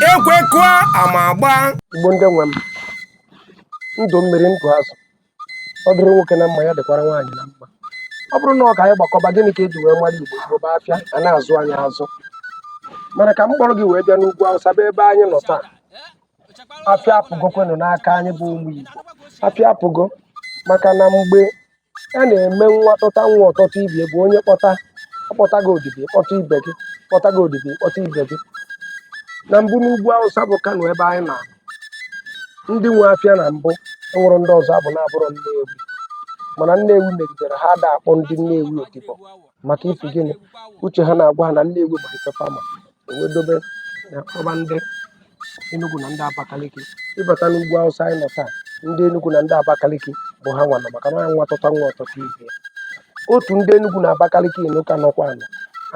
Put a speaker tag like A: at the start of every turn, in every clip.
A: ekwe kụọ ama agbaa igbo ndị nwe
B: m ndụ mmiri ndụ azụ ọ dịrị nwoke na mma ya dịkwara nwaanyị na mma ọ bụrụ na ọ ka anyị gbakọba gịnị ka eji wee mara igbo igbo bụ afịa a na-azụ anyị azụ mana ka m kpọrọ gị wee bịa n'ugwu awụsa bụ ebe anyị nọ taa afịa apụgokwenụ n'aka anyị bụ ụmụ igbo afịa apụgo maka na mgbe a na-eme nwa tọta nwa ọ tọta ibe bụ onye kpọta akpọta gị odibo ịkpọta ibe gị kpọta gị odibo ịkpọta ibe gị na mbụ n'ugwu awụsa bụ kano ebe anyị nọ ndị nwe afịa na mbụ enwerọ ndị ọzọ ọ bụ na-abụrọ nnewi mana nnewi megidere ha ada akpọ ndị nnewi odibo maka ifi gịnị uche ha na-agwa ha na nnewi bụ ife fa ma wee dobe na-akpọba ndị Enugu na ndị Abakaliki ịbata n'ugwu Awụsa anyị nọ taa ndị Enugu na ndị Abakaliki bụ ha nwe ana maka na nwa tọta nwa ọ tọta ibe otu ndị Enugu na Abakaliki nọ ka nọkwa anọ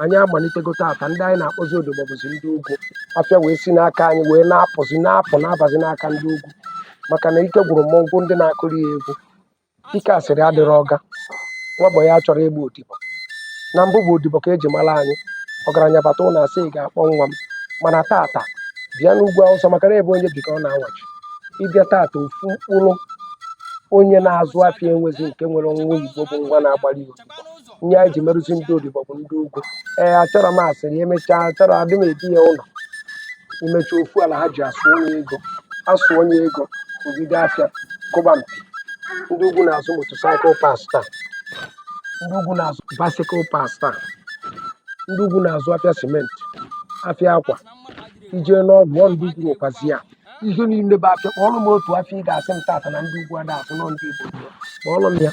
B: anyị amalitego taata ndị anyị na-akpọzi odibo bụzi ndị ugwu afịa wee si n'aka anyị wee na-apụzi na-apụ na-abazi n'aka ndị ugwu maka na ike gwụrụ mmọnwụ ndị na-akụrụ ya egwu Ike asịrị adịrọ ọga. Nwa bọyị achọrọ ịgba odibo. Na mbụ bụ odibo ka e ji mara anyị. Ọgaranya bata ụlọ asị ị ga-akpọ nwa m. Mana taata, bịa n'ugwu Awụsa maka na ebe onye bi ka ọ na-awachi. Ị bịa taata ofu mkpụrụ onye na-azụ afịa enwezi nke nwere nwa Igbo bụ nwa na-agbara ya odibo. ihe anyị ji merụzi ndị odibo bụ ndị ugwu ee achọrọ m asịrị emechaa achọrọ adị m ebi ya ụlọ imecha ofu alhaji asụnye ego asụnye ego o jide afịa kụba mpi ndị ugwu na-azụ motorcycle parts taa ndị ugwu na-azụ bicycle parts taa ndị ugwu na-azụ afịa simenti afịa akwa ị jee n'ọgwụ ọ ndị ugwu nwekwazi ya ihe niile bụ afịa kpọọrọ m otu afịa ị ga-asị m taata na ndị ugwu ada azụ na ọ ndị igbo kpọọrọ m ya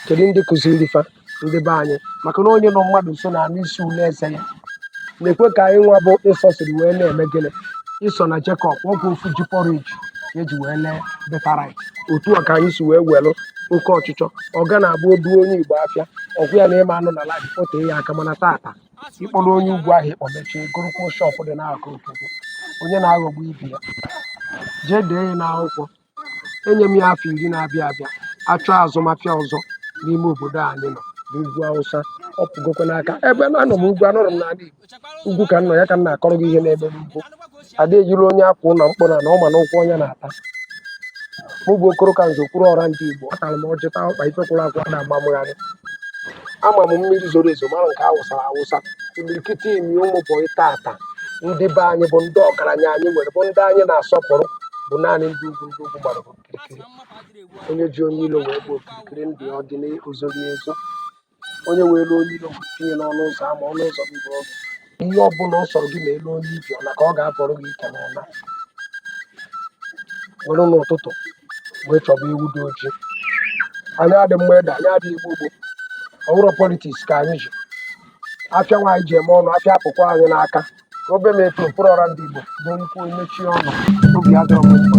B: kedu ndị kụziri fa ndị be anyị maka na onye nọ mmadụ nso na-anụ isi ule eze ya nekwe ka anyị nwa bụ ịsọ siri wee na-eme gịnị ịsọ na Jekọb ọkwa ofu ji porridge ka eji wee lee birthright otu a ka anyị si wee welụ oke ọchịchọ ọga na-abụ o du onye Igbo afịa ọgwụ ya na ịma anụ na alhaji ote ya aka mana taata ịkpọrọ onye ugwu ahụ ịkpọ mechie gorokwuo shọpụ dị n'akụkụ onye na-aghọgbu ibe ya jee dee ya n'akwụkwọ enye m ya afọ iri na-abịa abịa achọ azụmahịa ọzọ n'ime obodo a anyị nọ n'ugwu awụsa ọ pụgokwa n'aka ebe na anọ m ugwu anọrọ m n'ala igbo ugwu ka m nọ ya ka m na-akọrọ gị ihe na-eme n'ugwu ada ejiri onye akwụ ụlọ mkpụrụ na ọ ma na ụkwụ onye na-ata mụ bụ okoro ka nze kwuru ọra ndị igbo atara m ọjị taa ọkpa ife kwụrụ akwụ ada amamụgharị ama m mmiri zoro ezo mara nke awụsara awụsa imirikiti ime ụmụ bọyị taata ndị be anyị bụ ndị ọgaranya anyị nwere bụ ndị anyị na-asọpụrụ bụ naanị ndị ugwu ndị ugwu gbara okirikiri onye ji onye ilo wee bụ okirikiri ndị ọ dị n'ozoro ezo onye were onye ilo wee tinye n'ọnụ ụzọ ama ọnụ ụzọ gị bụ ọgụ ihe ọ bụla ọ sọrọ gị na elu onye ibi ọla ka ọ ga-abọrọ gị ike n'ụla were n'ụtụtụ wee chọba ewu dị oji anyị adị mma ede anyị adịghị igbo gboo ọ bụrụ politiks ka anyị ji afịa nwaanyị ji eme ọnụ afịa apụkwa anyị n'aka ka obe m eto mkpụrụ ọra ndị Igbo bụ nkwu mechie ọnụ obi adọrọ m mma